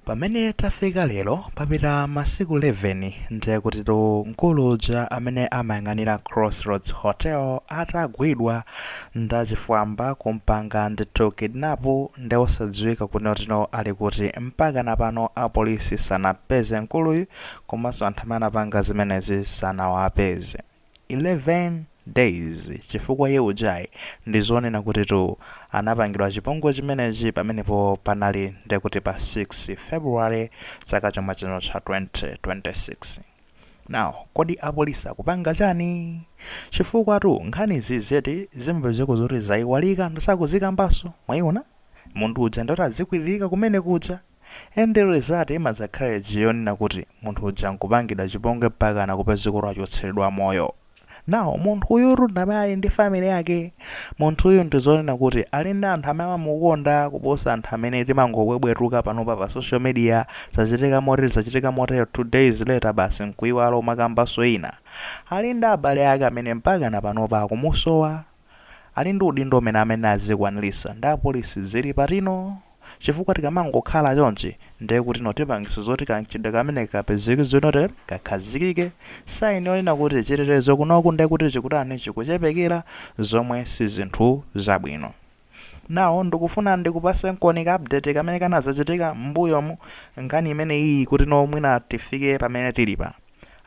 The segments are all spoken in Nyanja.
Pamene tafika lero papita masiku 11 ndiye kutitu mkulu uja amene amayang'anira Crossroads Hotel atagwidwa ndachifwamba kumpanga ndithu kidnap ndi osadziwika kunena kutino ali kuti. Mpakana pano apolisi sanampeze mkuluyu komanso anthu amene anapanga zimenezi sanawapeze. 11 days chifukwa iye ujayi ndizonena kutitu anapangidwa chipongwe chimenechi pamenepo panali ndekuti pa 6 February chaka chomwe chino cha 2026 now kodi apolisi akupanga chani chifukwa tu nkhani zizeti zimapezekano zoti zaiwalika nde sakuzikambaso mwaona munthu uja nde wazikwilirika kumene kuja And the result imadzakhala ija yonena kuti munthu uja nkupangidwa chipongwe mpakana kupezeka kuti wachotseredwa moyo. Now munthu uyutu ndi amene ali ndi family yake. Munthu uyu ndi zonena kuti ali ndi anthu amene amamukonda kuposa anthu amene timangobwebwetuka panopa pa social media, zachitika motere zachitika motere, two days later basi nkuiwala kumakambanso zina. Ali ndi abale ake amene mpakana panopa akumusowa. Ali ndi udindo umene amene azikwanilitsa nde apolisi zili pati no? Chifukwa tikamangokhala chonchi ndiye kutino tipangisa zoti kamchitidwe kameneka kapezeke zotino kakhazikike sign yonena kuti chitetezo kunoku ndiye kuti chikutani chikuchepekera zomwe sizinthu zabwino. Now ndikufuna ndikupatsenkoni ka update kamene kanazachitika mmbuyomu nkhani imene iyi kutino mwina tifike pamene tilipa.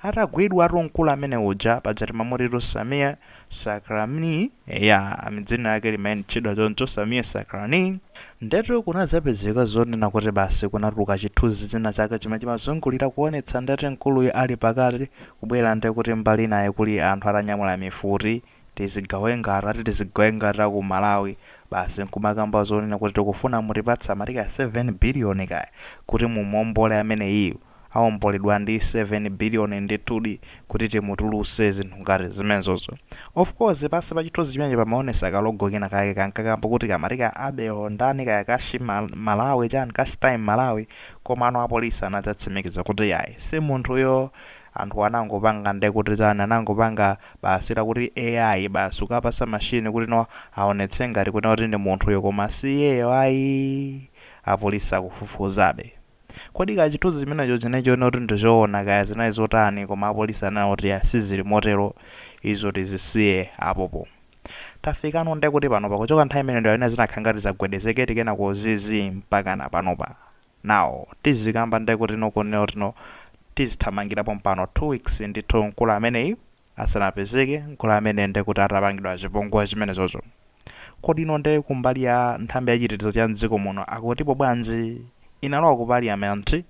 atagwidwatu mkulu amene uja paja timamutitu Samir Sacranie eya dzina lake limatchedwa choncho Samir Sacranie ndetu kunadzapezeka zonena kuti basi kunatuluka chithunzi china chake chimene chimazungulira kuonetsa ndeti mkuluyu ali pakati kubwera nde kuti mbali inayi kuli anthu atanyamula mifuti tizigawenga ati tizigawenga ta ku Malawi basi nkumakamba zonena kuti tikufuna mutipatse amati kaya 7 biliyoni kaya kuti mumuombole ameneyiyu awomboledwa ndi 7 billion ndithudi kuti timutuluse zinthu ngati zimenezozo of course pansi pa chithunzi chimenecho pamaonesa ka logo kena kake kankakamba kuti kamati ka Abel ndani kaya kashi malawi chani kashi time malawi komano apolisi anadzatsimikiza kuti yayi simunthuyo anthuwa anangopanga ndekuti chani anangopanga basi kuti AI basi kukapasa machine kuti no awonetse ngati kunena kuti ndi munthuyo koma siyeyo ayi apolisi akufufuzabe. Kodi kaya chithunzi chimenecho chinali chowoneka kuti ndi chowona, kaya zinali zotani, koma apolisi ananena kuti iyayi, siziri motero, izo tizisiye apopo. Tafikano nde kuti panopa, kuchoka nthawi imeneyo ndiye zinakhala ngati zagwedezekedi kenako zi zi mpakana panopa. Now, tizikamba nde kuti no kunena kuti no tizithamangira pompano two weeks ndithu mkulu ameneyi. asanapezeke mkulu amene nde kuti atapangidwa chipongwe chimenecho. Kodi ino nde kumbali ya nthambi ya chitetezo cha mdziko muno akutipo bwanji? Inalowa ku parliament?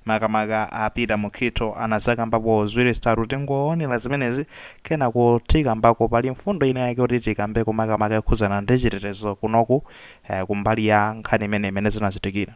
Makamaka a Peter Mukhito anazakambapo ziwiri zitatu tingoonera zimenezi kenaka tikambako pali mfundo ina yake yoti tikambeko makamaka yokhudzana ndi chitetezo kunoku kumbali ya nkhani imeneyi mmene zinachitikira.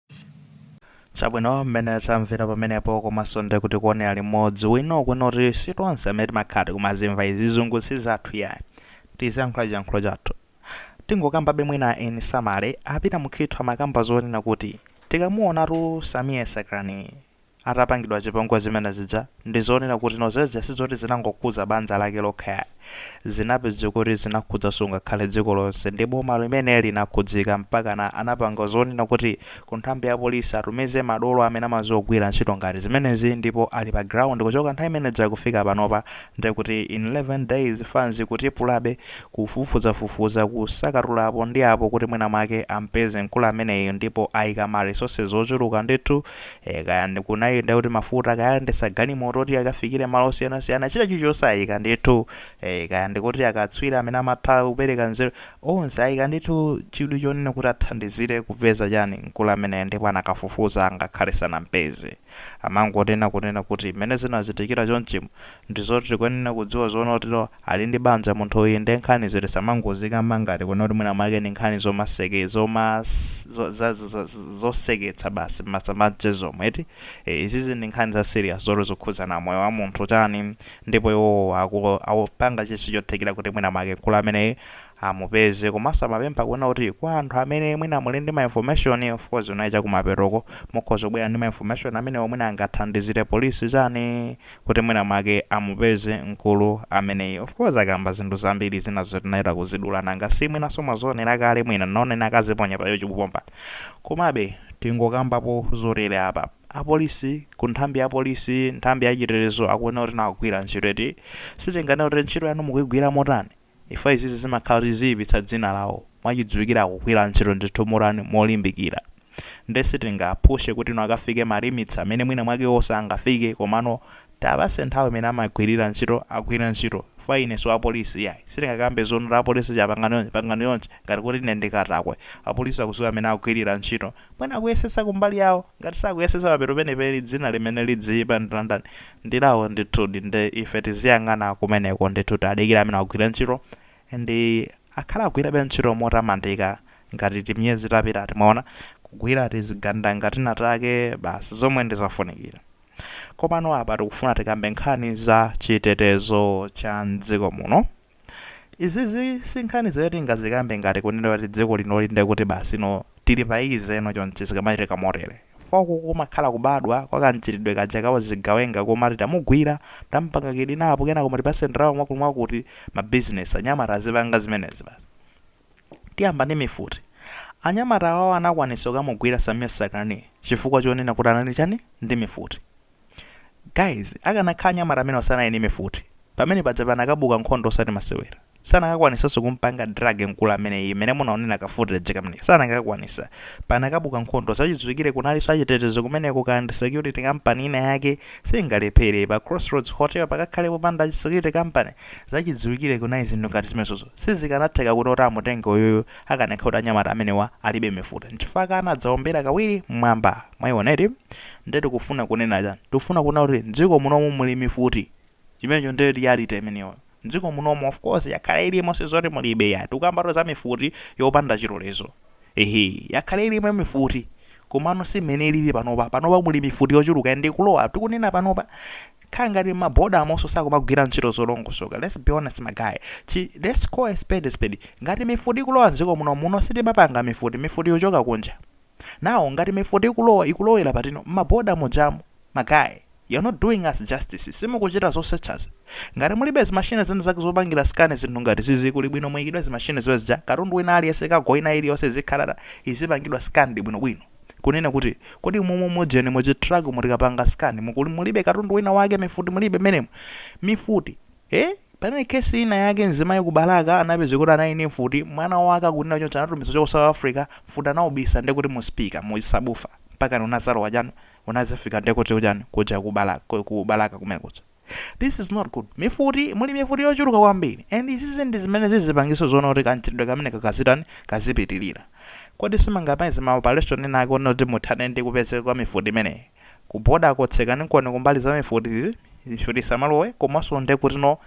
Chabwino mmene tamvera pamenepo komanso nde kuti kuonera limodzi mwina kunena kuti sitonse amene timakhala tikumazimva izi zizungu si zathu iyayi tiziyankhula chiyankhulo chathu tingokambabe mwina in summary a Peter Mukhito amakamba zonena kuti tikamuonatu Sameer Sacranie atapangidwa chipongwe chimene chija ndi zonena kuti no zezija sizoti zinangokhudza banja lake lokha yayi zinapezeka kuti zinakhudzanso ngakhale dziko lonse ndi boma limene linakhudzika mpakana anapanga zonena kuti ku nthambi ya police atumize madolo amene amadziwa kugwira ntchito ngati zimenezi ndipo ali pa ground kuchoka nthawi imene ija kufika panopa nde kuti in 11 days fanzi ikutipulabe kufufuzafufuza kusakatula apo ndi apo kuti mwina mwake ampeze mkulu ameneyu ndipo ayika ma resources ochuluka ndithu e, kaya ndi kunena kuti mafuta kaya ndi za galimoto kuti akafikire malo osiyanasiyana china chilichonse ayika ndithu e, kaya ndikuti akatswiri amene amatha kupereka nzeru onse ayika ndithu chidwi chonena kuti athandizire kupeza chani mkulu ameneyi ndipo adakafufuza ngakhale sanampeze amangonena kunena kuti mmene zinachitikira chonchimu ndizoti tikuyenera kudziwa zoona kuti no Ali ndi banja munthuyu nde nkhanizo tisamangozikamba ngati kunena kuti mwina mwake ndi nkhani zomaseke zoma zo za za za zoseketsa basi mmasamba amchezomu eti e, izizi ndi nkhani za serious zoti zikhudzana moyo wa munthu chani ndipo iwowo aku akupanga chilichonse chothekera kuti mwina mwake mkulu ameneyi amupeze komanso amapempha kunena kuti kwa anthu amene mwina muli ndi ma information of course unali chakumapetoko mukhoza kubwera ndi ma information amenewo mwina angathandizire apolisi chani kuti mwina mwake amupeze mkulu ameneyi of course akamba zinthu zambiri zina zo tinayenera kuzidula nanga si mwinanso mwazionera kale mwina naonena akaziponya pa YouTube chikupomba komabe tingokambapo zotere apa apolisi ku nthambi ya polisi nthambi ya chitetezo akuona kuti no akugwira ntchito eti sitinganene kuti ntchito yanu mukuyigwira motani chifukwa izizi zimakhala kuti ziyipitsa dzina lawo, mwachidziwikire akugwira ntchito ndithu motani, molimbikira, nde sitingawaphushe kuti no akafike ma limits amene mwina mwake iwowo sangafike, komano tiwapatse nthawi imene amagwirira ntchito, agwire ntchito, chifukwa ine siwapolisi iyayi, sitingakambe zoona kuti apolisi ichi pangani chonchi, pangani chonchi, ngati kuti ine ndi katakwe, apolisi akudziwa mmene akugwirira ntchito, Mwina akuyesetsa kumbali yawo, ngati sakuyesetsa papeto penipeni dzina limene lidziipa ndi la ndani? Ndi lawo ndithu nde ife tiziyang'ana kumeneko ndithu tadikira amene agwira ntchito and akhala agwirabe ntchito motamandika ngati timiyezi tapitati timaona kugwira tizigawenga tinatake basi zomwe ndizofunikira komano apa tikufuna tikambe nkhani za chitetezo cha mdziko muno. Izizi sinkhani zoti tingazikambe ngati kunena kuti dziko lino lili ndekuti basi no tili pa easy no chonchi zikamachitika motere chifukwa uku kumakhala kubadwa kwa kamchitidwe kaja ka uzigawenga kumati tamugwira, tamupanga kidinapu kenako kumati tipatseni ndalama mwakutimwakuti, mabizinesi anyamata azipanga zimenezi basi. Tiyamba ndi mifuti. Anyamata awawa anakwanitsa kukamugwira Sameer Sacranie chifukwa chonena kuti anali ndi chani? Ndi mifuti. Guys, akanakhala anyamata amenewa sanali ndi mifuti, pamene paja panakabuka nkhondo osati masewera. Sanakakwanitsanso kumpanga drag mkulu ameneyi mmene munaonera ka footage kameneka. Sanakakwanitsa. Panakabuka nkhondo. Zachidziwikire kunalinso achitetezo kumeneko kaya ndi security company ina yake singalephere. Pa Crossroads Hotel pakakhale popanda security company? Zachidziwikire kunali zinthu ngati zimezozo sizikanatheka kuti oti amutenge uyuyu akanakhala kuti anyamata amenewa alibe mifuti nchifukwa anadzaombera kawiri mmwamba. Mwaiona eti? Nde tikufuna kunena chani? Tikufuna kunena kuti mdziko munomu muli mifuti. Chimenecho nde reality imeneyo. Mdziko munomu of course yakhala ilimo sizoti mulibe yayi. Tikukambatu za mifuti yopanda chilolezo. Ehe, yakhala ilimo mifuti, komano si mmene ilili panopa. Panopa muli mifuti yochuluka and ikulowa. Tikunena panopa, khala ngati mma border monso sakumagwira ntchito zolongosoka. Let's be honest my guy. Chi, let's call a spade a spade. Ngati mifuti ikulowa mdziko muno, muno sitimapanga mifuti, mifuti ikuchoka kunja. Now, ngati mifuti ikulowa, ikulowera patino? Mma border mujamu. My guy, you're not doing us justice, simukuchita zosechazi. Ngati mulibe zimachine zina zake zopangira scan zinthu ngati zizi kuli bwino muikidwe zimachine zija katundu wina aliyense cargo ina iliyonse izikhala izipangidwa scanned bwino bwino. Kunena kuti kodi mumu mu ujeni mu chi truck mu tikapanga scan mu mulibe katundu wina wake mifuti mulibe mmenemu? Mifuti? Eh? Panali case ina yake mzimayi ku Balaka anapeza kuti anali ndi mfuti, mwana wake akunena choncho anatumiza kuchoka ku South Africa, mfuti anaubisa ndekuti mu speaker mu chi subwoofer mpakana unazalowa chanu, unazafika nde kuti uchani kuja ku balaka ku balaka kumene kuja this is not good mifuti muli mifuti yochuluka kwambiri and izizi ndi zimene zizipangitsa zoona kuti kanchitidwe kameneka kazitani kazipitirira kodi simungapeze ma operation ena ake oona kuti muthane ndi kupezeka kwa mifuti imeneyi kuboda kutsekani nkoni kumbali za mifuti izi mifuti isamalowe komanso nde kuti no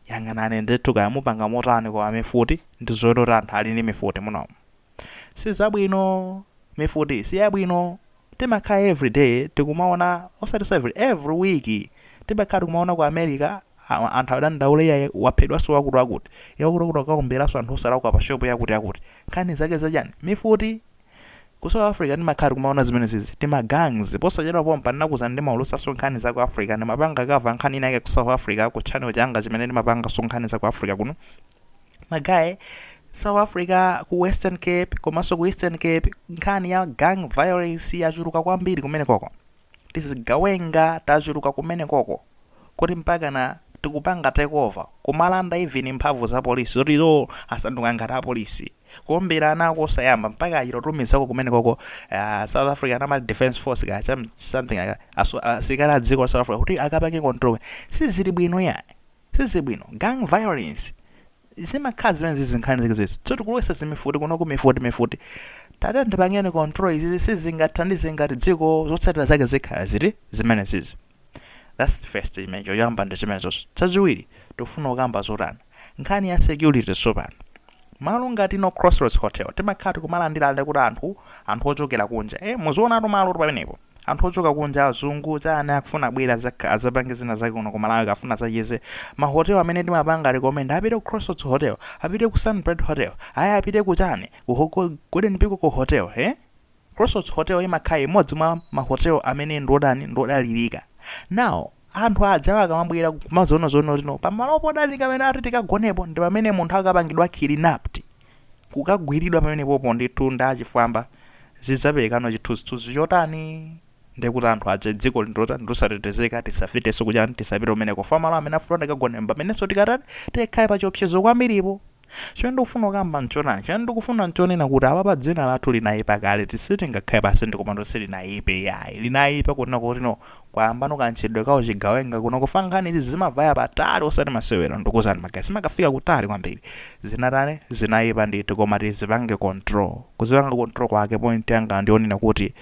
yang'anani ndithu kaya mupanga motani koma mifuti ndi zoona kuti anthu ali ndi mifuti munomu sizabwino mifuti siyabwino timakhala every day tikumaona osati every every week timakhala tikumaona ku america a- anthu adandaula iye waphedwanso wakuti wakuti iye wakuti wakuti akaomberanso anthu osalakwa pa shopu yakuti yakuti nkhani zake zachani mifuti ku south africa timakhala tikumaona zimene zizi timagangs posachedwa pompa ndinakuuzani ndimaulusaso nkhani za ku africa ndimapanga kava nkhani inayake ku south africa ku channel changa chimene ndimapanga so nkhani za ku africa kuno ma guy South Africa ku Western Cape komanso ku Eastern Cape nkhani ya gang violence yachuluka kwambiri kumene koko tizigawenga tachuluka kumene koko kuti mpaka na tikupanga takeover kumalanda even mphamvu za polisi zoti iwo asanduka ngati apolisi kuombera ana ako osayamba mpaka achita kutumizako kumene koko uh, South Africa national defense force ka some- something like that. Aso- asilikali a dziko la South Africa kuti akapange control sizili bwino yayi sizibwino gang violence zimakhala zimene zizi nkhani zake zizi tso tikulowesa zimifuti kunoku mifuti mifuti tatiyeni tipange control izizi sizingathandize ngati dziko zotsatira zake zikhala ziri zimene zizi that's the first image yoyamba ndi zimene zonse chachiwiri tikufuna kukamba zotani nkhani ya security tsopano malo ngati no crossroads hotel timakhala tikumalandira aliti anthu anthu ochokera kunja eh muzionatu malo oti pamenepo anthu ochoka kunja azungu chani akufuna abwere azak- azapange zina zake kuno ku malawi akafuna azacheze mahotel amene timapanga recommend apite ku crossroads hotel apite ku sunbird hotel ayi apite ku chani ku ho- ku golden peacock hotel eh? crossroads hotel imakhala imodzi mwa mahotel amene ndiodani ndiodalirika now anthu ajawa akamabwera kumazaona zoona zino pamalo podalirika amene ati tikagonepo ndi pamene munthu akapangidwa kidnapped kukagwiridwa pamenepopo ndithu ndi achifwamba zidzaperekano chithunzithunzi chotani ndekuti anthu aja dziko ili ndi lotani losatetezeka tisapitenso kuchani tisapite kumeneko chifukwa malo amene afuna tikagone mpamenenso tikatani tikhale pa chiopsezo kwambiripo chimene ndikufuna kukamba mchonani chimene ndikufuna mchonena kuti apa pa dzina lathu linayipa kale tisitingakhale pansi ndikumati silinayipe yayi linayipa kunena kuti no kwayambano ka mchitidwe ka uchigawenga kuno chifukwa nkhani izi zimavaya patali osati masewero ndikuuzani ma guys zimakafika kutali kwambiri zinatani zinayipa ndithu koma tizipange control kuzipanga control kwake point yanga ndionena kuti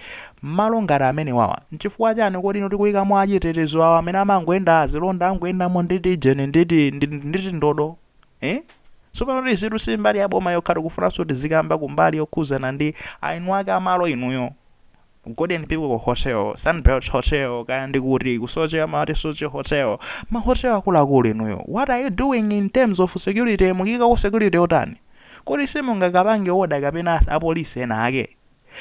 mmalo ngati amene wawa nchifukwa chani kodi ife tikuyikamo achitetezo awa amene amangoyenda azilonda angoyendamo nditi jeni nditi nditi nditi ndodo eh tsopano izitu si mbali ya boma yokha tikufunanso tizikamba kumbali yokhudzana ndi eni ake amalo inuyo Golden Peacock Hotel, Sunbird Hotel kaya ndi kuti ku Soche amati Soche Hotel. Ma hotel akuluakulu inuyo. What are you doing in terms of security? Mukuikako security yotani? Kodi simungakapange order kapena apolisi ena ake?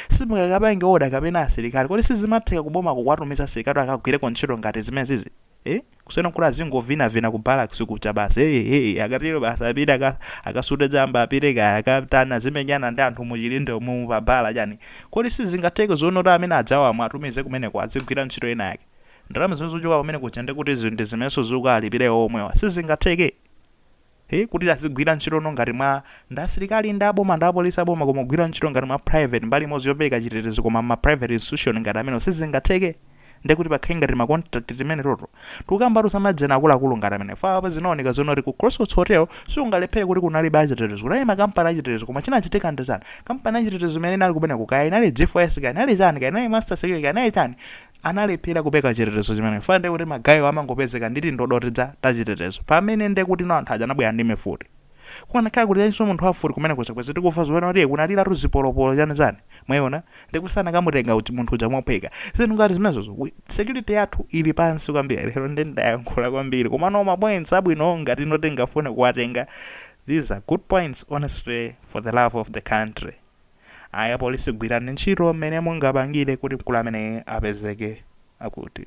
Simungakapange order kapena asilikali? Kodi sizimatheka kubomako kuwatumiza asilikali akagwireko ntchito ngati zimenezizi? Eh? Kusiyana nkuti azingovinavina ku barracks kucha basi hey hey akatero basi apite aka, akasute chamba apite kaya akatani azimenyana ndi anthu mu chilinde mu pa bala chani. Kodi sizingatheke zoona kuti amene adzawamwe atumize kumeneko azigwira ntchito ina yake. Ndalama zimene zikuchoka kumenekuja ndekuti ndi zimenenso zikuwalipira iwo omwewa. Sizingatheke? He kuti azigwira ntchito no ngati mwa ndi asilikali ndi aboma ndi apolisi aboma koma kugwira ntchito ngati mwa private mbali imodzi yopereka chitetezo koma mma private institution ngati amenewo sizingatheke nde kuti pakhale ngati ma contract timene toto tikukambatu za ma ejeni akuluakulu ngati amene faa apa zinaoneka zoona kuti ku Crossroads Hotel sikungalephere kuti kunalibe achitetezo kunali makampani achitetezo koma chinachitika ndi chani kampani yachitetezo imene inali kumeneko kaya inali G4S kaya inali chani kaya inali Master Security kaya inali chani analephera kupeka chitetezo chimenecho chifukwa ndiye kuti magayiwo amangopezeka ndi tindodo tija tachitetezo pamene ndiye kuti no anthu aja anabwera ndi mifuti kukanakhala kuti analinso munthu wamfuti kumenekuja bwenzi tikumva zoona kuti kunaliratu zipolopolo chani chani mwayiona ndiye kuti sanakamutenga uchi- munthu uja mophweka zinthu ngati zimenezozo we- security yathu ili pansi kwambiri lero ndi ndayankhula kwambiri koma no mapoints abwino ngati no tingafune kuwatenga these are good points honestly for the love of the country ayi apolisi gwirani ntchito mmene mungapangire kuti mkulu ameneyi apezeke akuti.